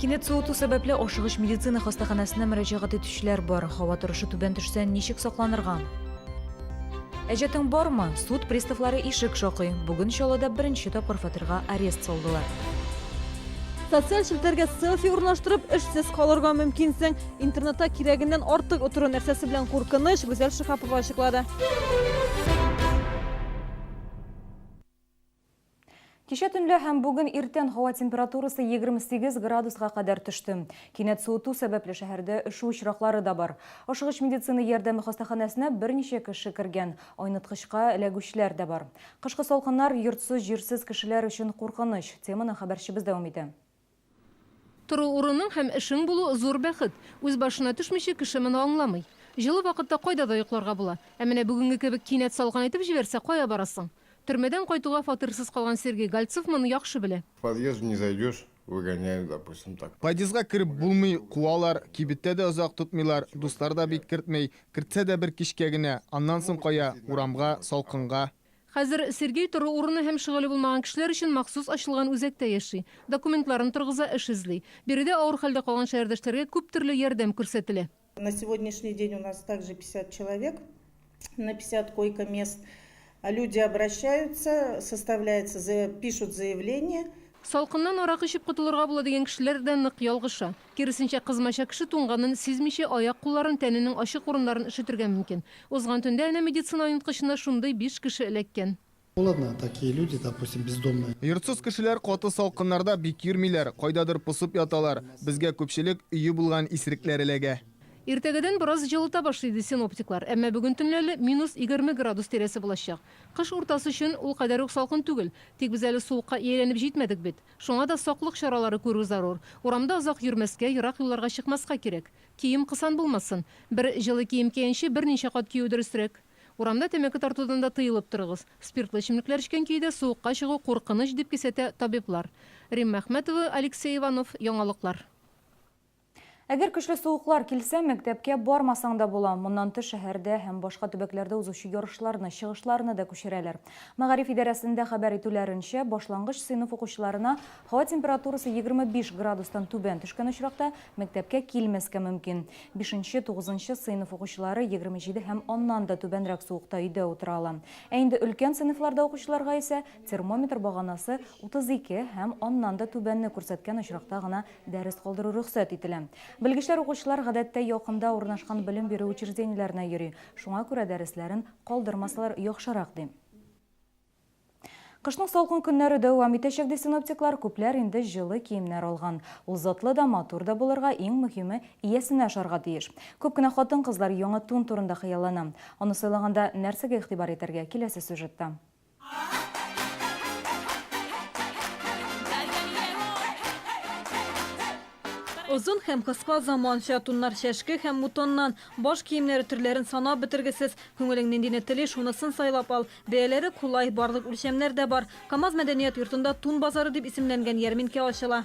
Кинәт суыту сәбәпле ашыгыч медицина хастаханәсенә мөрәҗәгать итүчеләр бар. Һава торышы түбән төшсә, ничек сакланырга? Әҗәтең бармы? Суд приставлары ишек шакый. Бүген Чаллыда беренче тапкыр фатирга арест салдылар. Социаль челтәргә селфи урнаштырып, эшсез калырга мөмкинсең. Интернетта кирәгеннән артык утыру нәрсәсе белән куркыныч, Гүзәл Шихапова ачыклады. Кичә төнлә һәм бүген иртән һава температурасы 28 градуска кадәр төште. Кинәт суыту сәбәпле шәһәрдә өшү очраклары да бар. Ашыгыч медицина ярдәме хастаханәсенә берничә кеше кергән, айныткычка эләгүчеләр дә бар. Кышкы салкыннар йортсыз-җирсез кешеләр өчен куркыныч. Теманы хәбәрчебез дәвам итә. Тору урының һәм эшең булу, зур бәхет. Үз башына төшмичә, кеше моны аңламый. Җылы вакытта кайда да йокларга була. Ә менә бүгенге кебек кинәт салкын итеп җибәрсә, кая барасың? Төрмәдән кайтуга фатирсыз калган Сергей Гольцов моны яхшы белә. В подъезд не зайдешь, выгоняют, допустим, так. Подъездга кереп булмый, куалар, кибеттә дә озак тотмыйлар, дуслар да бик кертмый, кертсә дә бер кичкә генә, аннан соң кая, урамга, салкынга. Хәзер Сергей тору урыны һәм шөгыле булмаган кешеләр өчен махсус ачылган үзәктә яши. Документларын торгыза, эш эзли. Биредә авыр хәлдә калган шәһәрдәшләргә күп төрле ярдәм күрсәтелә. На сегодняшний день у нас также пятьдесят человек на пятьдесят койка мест. Люди обращаются, составляется, пишут заявление. Салкыннан аракы эчеп котылырга була дигән кешеләр дә нык ялгыша. Киресенчә, кызмача кеше туңганын сизмичә, аяк-кулларын, тәненең ачык урыннарын өшетергә мөмкин. Узган төндә әнә медицина оенткычына шундый биш кеше эләккән. Ну ладно, такие люди, допустим, бездомные. Йортсыз кешеләр каты салкыннарда бик йөрмиләр, кайдадыр посып яталар. Безгә күпчелек өе булган исрекләр эләгә. Иртәгәдән бераз җылыта башлый, ди синоптиклар. Әмма бүген төнлә әле минус егерме градус тирәсе булачак. Кыш уртасы өчен ул кадәр үк салкын түгел. Тик без әле суыкка ияләнеп җитмәдек бит. Шуңа да саклык чаралары күрү зарур. Урамда озак йөрмәскә, ерак юлларга чыкмаска кирәк. Кием кысан булмасын. Бер җылы кием киянче, берничә кат кию дөресрәк. Урамда тәмәке тартудан да тыелып торыгыз. Спиртлы эчемлекләр эчкән көйдә суыкка чыгу куркыныч, дип кисәтә табиблар. Римма Әхмәтова, Алексей Иванов, Яңалыклар. Әгәр көчле суыклар килсә, мәктәпкә бармасаң да була. Моннан тыш, шәһәрдә һәм башка төбәкләрдә узучы ярышларны, чыгышларны да күчерәләр. Мәгариф идарәсендә хәбәр итүләренчә, башлангыч сыйныф укучыларына һава температурасы егерме биш градустан түбән төшкән очракта, мәктәпкә килмәскә мөмкин. Бишенче, тугызынчы сыйныф укучылары егерме җиде һәм аннан да түбәнрәк суыкта өйдә утыра ала. Ә инде өлкән сыйныфларда укучыларга исә термометр баганасы утыз ике һәм аннан да түбәнне күрсәткән очракта гына Дәрес калдыру рөхсәт ителә. Белгечләр укучылар гадәттә якында урнашкан белем бирү учреждениеләренә йөри, шуңа күрә дәресләрен калдырмасалар яхшырак, ди. Кышның салкын көннәре дәвам итәчәк, ди синоптиклар. Күпләр инде җылы киемнәр алган. Ул затлы да, матур да булырга, иң мөһиме, иясенә ошарга тиеш. Күп кенә хатын-кызлар яңа тун турында хыяллана. Аны сайлаганда нәрсәгә игътибар итәргә, киләсе сюжетта. Озын һәм кыска заманча туннар чәшке һәм мутоннан, баш киемнәре төрләрен санап бетергесез. Күңелең ниндине тели, шунысын сайлап ал. Бәяләре кулай, барлык үлчәмнәр дә бар. Камаз мәдәният йортында Тун базары дип исемләнгән ярминкә ачыла.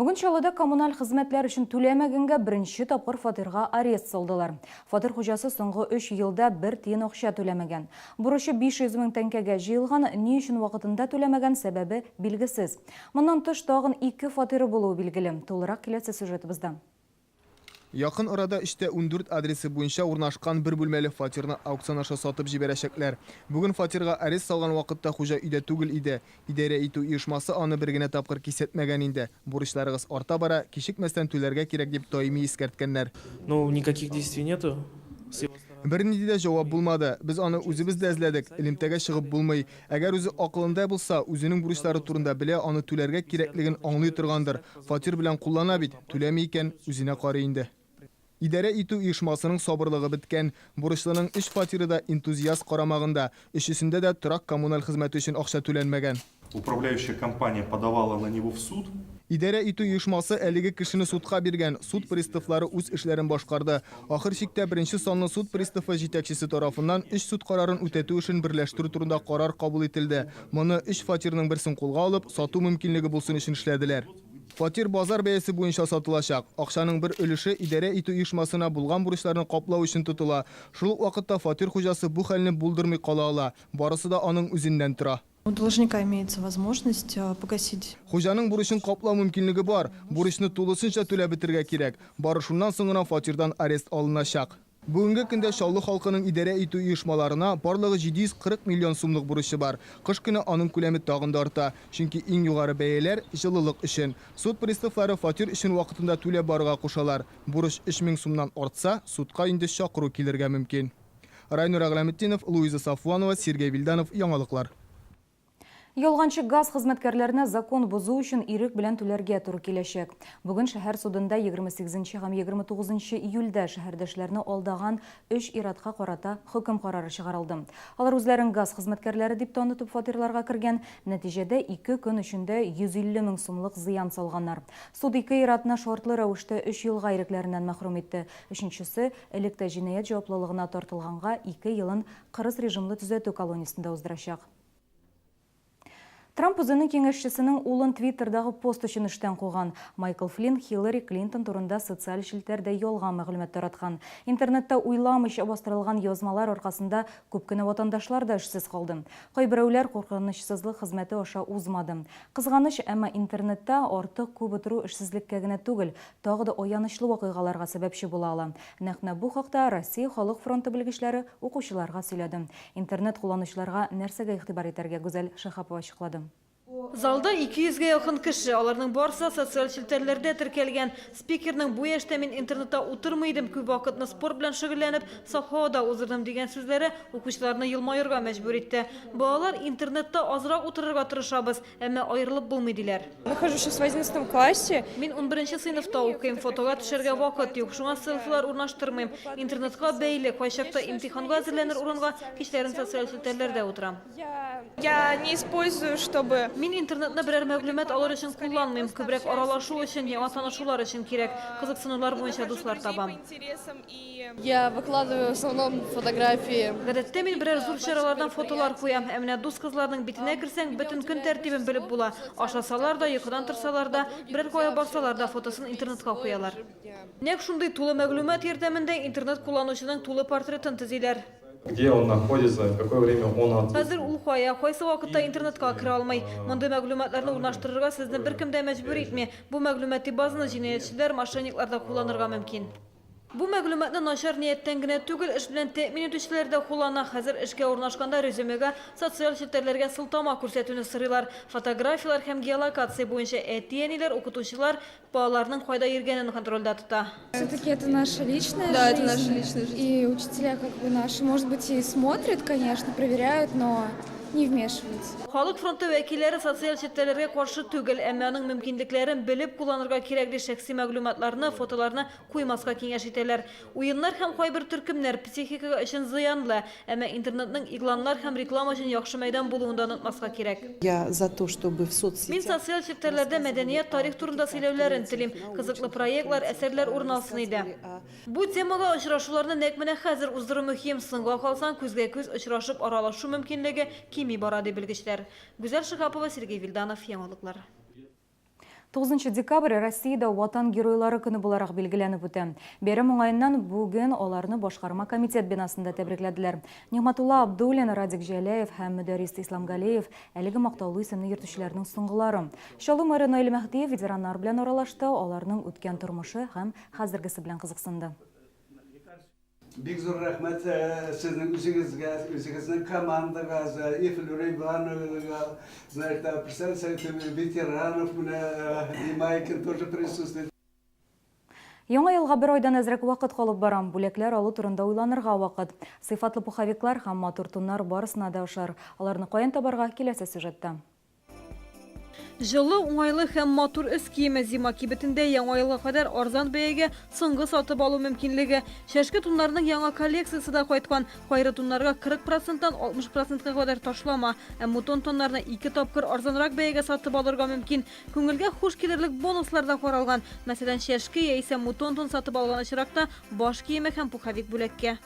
Бүген Чаллыда коммуналь хезмәтләр өчен түләмәгәнгә беренче тапкыр фатирга арест салдылар. Фатир хуҗасы соңгы 3 елда бер тиен акча түләмәгән. Бурычы 500 мең тәңкәгә җыелган, ни өчен вакытында түләмәгән, сәбәбе билгесез. Моннан тыш, тагын ике фатиры булуы билгеле. Тулырак киләсе сюжетыбызда. Якын арада эчтә ундүрт адресы буенча урнашкан бер бүлмәле фатирны аукцион аша сатып җибәрәчәкләр. Бүген фатирга арест салган вакытта хуҗа өйдә түгел иде. Идарә итү оешмасы аны бер генә тапкыр кисәтмәгән инде. Бурычларыгыз арта бара, кичекмәстән түләргә кирәк, дип даими искәрткәннәр. Ну, никаких действий нету, Севасторонь. Бернинди дә җавап булмады. Без аны үзебез дә эзләдек, элемтәгә чыгып булмый. Әгәр үзе акылында булса, үзенең бурычлары турында белә, аны түләргә кирәклеген аңлый торгандыр. Фатир белән куллана бит, түләми икән, үзенә карый инде. Идарә итү оешмасының сабырлыгы беткән. Бурычлының өч фатиры да энтузиаст карамагында, өчесендә дә торак-коммуналь хезмәте өчен акча түләнмәгән. Управляющая компания подавала на него в суд. Идарә итү оешмасы әлеге кешене судка биргән, суд приставлары үз эшләрен башкарды. Ахыр чиктә беренче санлы суд приставы җитәкчесе тарафыннан өч суд карарын үтәтү эшен берләштерү турында карар кабул ителде. Моны өч фатирның берсен кулга алып, сату мөмкинлеге булсын өчен эшләделәр. Фатир базар бәясе буенча сатылачак. Акчаның бер өлеше идарә итү оешмасына булган бурычларны каплау өчен тотыла. Шул ук вакытта фатир хуҗасы бу хәлне булдырмый кала ала. Барысы да аның үзеннән тора. У должника имеется возможность погасить. Хуҗаның бурычын каплау мөмкинлеге бар. Бурычны тулысынча түләп бетергә кирәк. Бары шуннан соң гына фатирдан арест алыначак. Бүгенге көндә Чаллы халкының идарә итү оешмаларына барлыгы 740 миллион сумлык бурычы бар. Кыш көне аның күләме тагын да арта, чөнки иң югары бәяләр, җылылык өчен. Суд приставлары фатир өчен вакытында түләп барырга кушалар. Бурыч 3000 сумнан артса, судка инде чакыру килергә мөмкин. Райнур Әгъләметдинов, Луиза Сафванова, Сергей Вильданов, Яңалыклар. Ялганчы газ хезмәткәрләренә закон бозу өчен ирек белән түләргә туры киләчәк. Бүген шәһәр судында егерме сигезенче һәм егерме тугызынчы июльдә шәһәрдәшләрне алдаган өч ир-атка карата хөкем карары чыгарылды. Алар үзләрен газ хезмәткәрләре дип танытып фатирларга кергән, нәтиҗәдә ике көн эчендә 150 мең сумлык зыян салганнар. Суд ике ир-атны шартлы рәвештә өч елга ирекләреннән мәхрүм итте, өченчесе, Элек тә җинаять җаваплылыгына тартылганга ике елын кырыс режимлы төзәтү колониясендә уздырачак. Трамп үзенең киңәшчесенең улын Твиттердагы пост өчен эштән куган. Майкл Флинн Хиллари Клинтон турында социаль челтәрдә ялган мәгълүмат тараткан. Интернетта уйламыйча бастырылган язмалар аркасында күп кенә ватандашлар да эшсез калды. Кайберәүләр куркынычсызлык хезмәте аша узмады. Кызганыч, әмма интернетта артык күп утыру эшсезлеккә генә түгел, тагы да аянычлы вакыйгаларга сәбәпче була ала. Нәкъ менә бу хакта Россия Халык фронты белгечләре укучыларга сөйләде. Интернет кулланучыларга нәрсәгә игътибар итәргә, Гүзәл Шиһапова ачыклады. Залда ике йөзгә якын кеше, аларның барысы да социаль челтәрләрдә теркәлгән. Спикерның Бу яшьтә мин интернетта утырмый идем, күп вакытны спорт белән шөгыльләнеп, саф һавада уздырдым, дигән сүзләре укучыларны елмаерга мәҗбүр итте. Балалар, интернетта азрак утырырга тырышабыз. Әмма аерылып булмый, диләр. Нахожусь сейчас в одиннадцатом классе. Мин унберенче сыйныфта укыйм, фотога төшәргә вакыт юк, шуңа селфилар урнаштырмыйм. Интернетка бәйле, кайчакта имтиханга әзерләнер урынга кичләрен социаль челтәрләрдә утырам. Я не использую, чтобы. Мин интернетны берәр мәгълүмат алыр өчен кулланмыйм, күбрәк аралашу өчен, яңа танышулар өчен кирәк, кызыксынулар буенча дуслар табам. Я выкладываю в основном фотографии. Гадәттә мин берәр зур чаралардан фотолар куям. Ә менә дус кызларның битенә керсәң, бөтен көн тәртибен белеп була. Ашасалар да, йокыдан торсалар да, берәр кая барсалар да фотосын интернетка куялар. Нәкъ шундый тулы мәгълүмат ярдәмендә интернет кулланучының тулы портретын төзиләр. Где он находится, в какое время он отсутствует. Хәзер ул кая, кайсы вакытта интернетка керә алмый. Мондый мәгълүматларны урнаштырырга сезне беркем дә мәҗбүр итми. Бу мәгълүмати базаны җинаятьчеләр, мошенниклар да кулланырга мөмкин. Бу мәгълүматны начар нияттән генә түгел, эш белән тәэмин итүчеләр дә куллана. Хәзер эшкә урнашканда резюмега социаль челтәрләргә сылтама күрсәтүне сорыйлар. Фотографияләр һәм геолокация буенча әти-әниләр, укытучылар балаларының кайда йөргәнен контрольдә тота. Всё-таки это наша личная жизнь. Да, это наша личная жизнь. И учителя как бы наши, может быть, и смотрят, конечно, проверяют, но. не вмешиваются. Халык фронты вәкилләре социаль челтәрләргә каршы түгел, әмма аның мөмкинлекләрен белеп кулланырга кирәк, ди шәхси мәгълүматларны, фотоларны куймаска киңәш итәләр. Уеннар һәм кайбер төркемнәр психикага өчен зыянлы, әмма интернетның игъланнар һәм реклама өчен яхшы мәйдан булуын да онытмаска кирәк. Я за то, чтобы в соцсетях Мин социаль челтәрләрдә мәдәният, тарих турында сөйләүләрен телим, кызыклы проектлар, әсәрләр урын алсын иде. Бу темага очрашуларны нәкъ менә хәзер уздыру мөһим, соңга калсаң, күзгә-күз очрашып аралашу мөмкинлеге кими бара, ди белгечләр. Гүзәл Шиһапова, Сергей Вилданов, Яңалыклар. Тугызынчы декабрь Россиядә Ватан геройлары көне буларак билгеләнеп үтә. Бәйрәм уңаеннан бүген аларны башкарма комитет бинасында тәбрикләделәр. Нигъмәтулла Абдуллин, Радик Җәләев һәм Мөдәррис Исламгалеев, әлеге мактаулы исемне йөртүчеләрнең соңгылары. Чаллы мэры Наил Мәһдиев ветераннар белән аралашты, аларның үткән тормышы һәм Хәзергесе белән кызыксынды. Бик зур рәхмәт сезнең үзегезгә, үзегезнең командагыз, и Флюра Ивановнага, значит, Апрсән Сәйфуллин, ветеранов менә Имайкин тоже присутствует. Яңа елга бер айдан әзрәк вакыт калып бара. Бүләкләр алу турында уйланырга вакыт. Сыйфатлы пуховиклар һәм матур туннар барысына да ошар. Аларны каян табарга, киләсе сюжетта. Җылы, уңайлы һәм матур өс киеме зима кибетендә Яңа елга кадәр арзан бәягә соңгы сатып алу мөмкинлеге. Чәшке туннарның яңа коллекциясе дә кайткан. Кайры туннарга 40 проценттан 60 процентка кадәр ташлама, ә мутон тоннарны ике тапкыр арзанрак бәягә сатып алырга мөмкин. Күңелгә хуш килерлек бонуслар да каралган. Мәсәлән, чәшке яисә мутон тон сатып алган очракта баш киеме һәм пуховик бүләккә.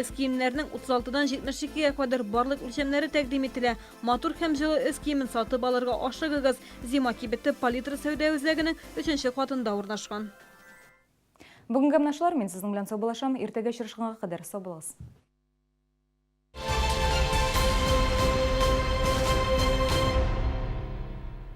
Өс киемнәрнең 36 дан 72 гә кадәр барлык үлчәмнәре тәкъдим ителә. Матур һәм җылы өс киемен сатып алырга ашыгыгыз. Зима кибете Палитра сәүдә үзәгенең өченче катында урнашкан. Бүгенгә менә шулар, мин сезнең белән саубулашам, иртәгә очрашканга кадәр сау булыгыз.